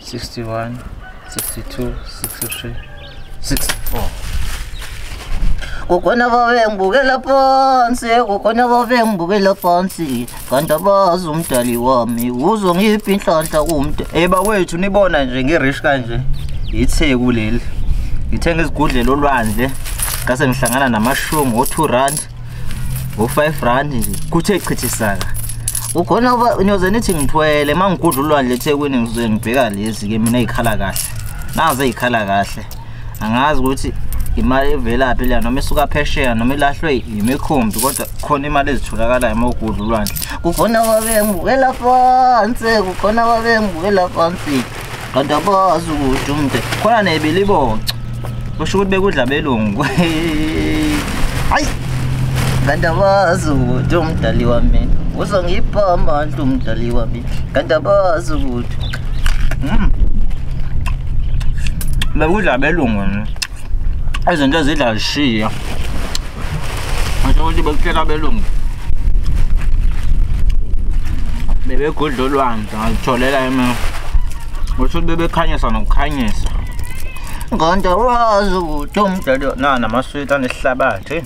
61 62 63 64 kukhona babengibukela phansi kukhona babengibukela phansi kanti abazi umdali wami uzo ngiphi inhlanhla kumntu eba wethu nibona nje ngirish kanje yitheku leli ngithenga izigudlela olwandle ngase ngihlangana namashumi o-two rand ngo-five rand nje kuthe chithisaka ukhona uba niyoze nithi ngithwele uma ngigudla ulwandle ethekwini ngizoze ngibheka lezi-ke mina ey'khala kahle naze ey'khala kahle angazi ukuthi imali evelaphi leya noma isuka phesheya noma ilahlwe yimikhumbi kodwa khona imali ezitholakalayo uma ugudla ulwandle kukhona babengibukela phansi kukhona babengibukela phansi kanti abazi ukuthi umde khona nebiliboca kusho ukuthi bekudla belungu hayi kanti abazi ukuthi umdali wami uzongipha amandla umdali wami kanti abazi ukuthi mm. bekudla belungu izinto ezidla zishiya ngisho ukuthi bekutshela abelungu bebegudla olwandle ngazitholela ema ngisho ukuthi bebekhanyisa nokukhanyisa ngonto wazi ukuthi umdlalo na namaswiti anesihlabathi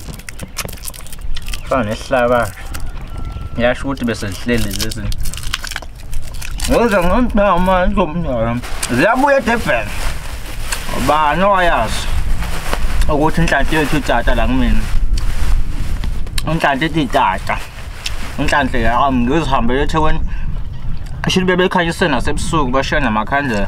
fana nesihlabathi yasho ukuthi besesihleli lezi Ngoze ngomntama ngomntwana. Ziyabuya eDurban. Ubani owayazi ukuthi inhlanhla yethu itata la kumina. Inhlanhla ethi itata. Inhlanhla yami ngizihambele eThekwini. Shili bebekhanyisela nasebusuku bashiya namakhandlela.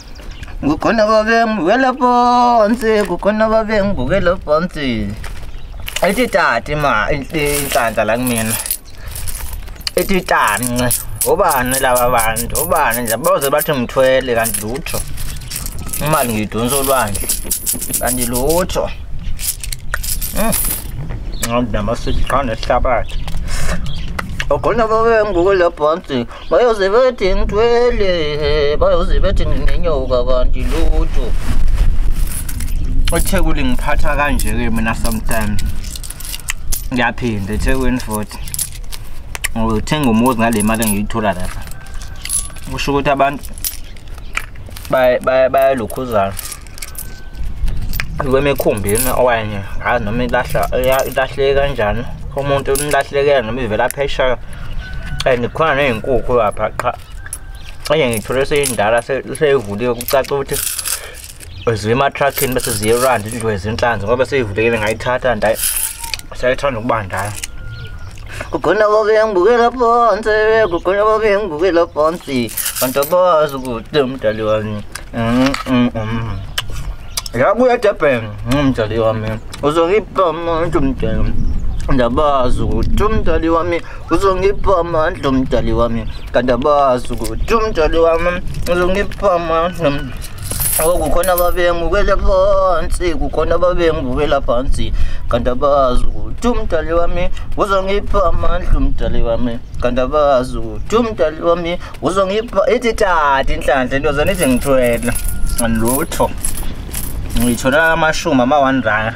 kukhona babengibukela phansi kukhona babengibukela phansi ethi tati ma inhlanhla la kumina ethi tance obani laba bantu obani nje boze bathi ngithwele kanti lutho imali ngiyidonsa olwandle kanti lutho hmm. nginamasithi qanda esihlabathi ogona babengibukela phansi bayoze bethi ngithwele bayoze bethi nginenyoka kanti lutho othekuli ngiphatha kanje-ke mina sometimes ngiyaphinda ethekwini futhi ngithenga umuzi ngale mali engiyithola lapha kusho ukuthi abantu bayalukhuzana lwemikhumbini okanye ngazi noma ilahla ilahleke kanjani umuntu nilahlekela noma ivela phesheya and khona ney'nkukhu lapha qha enye ngiyithole seyindala seyivuliwe kucaca ukuthi ziye ematruckini bese ziye erandi indlu ezinhlanzi ngoba seyivulekile ngayithatha ndayi sayithanda ukuba ndala kukhona babengibukela phansi kukhona babengibukela phansi kanti abazi ukuthi umdali wami mm, mm, mm. yabuya durban umdali wami uzongipha amandla umdali ndabazi ukuthi umdali wami uzongipha amandla umdali wami kanti abazi ukuthi umdali wami uzongipha amandla Oh, kukhona ababengibukele phansi kukhona ababengibukela phansi kanti abazi ukuthi umdali wami uzongipha amandla umdali wami kanti abazi ukuthi umdali wami uzongipha ithi tata inhlanhla into zona ithi ngithwele lutho ngiyithola amashumi ama-one rand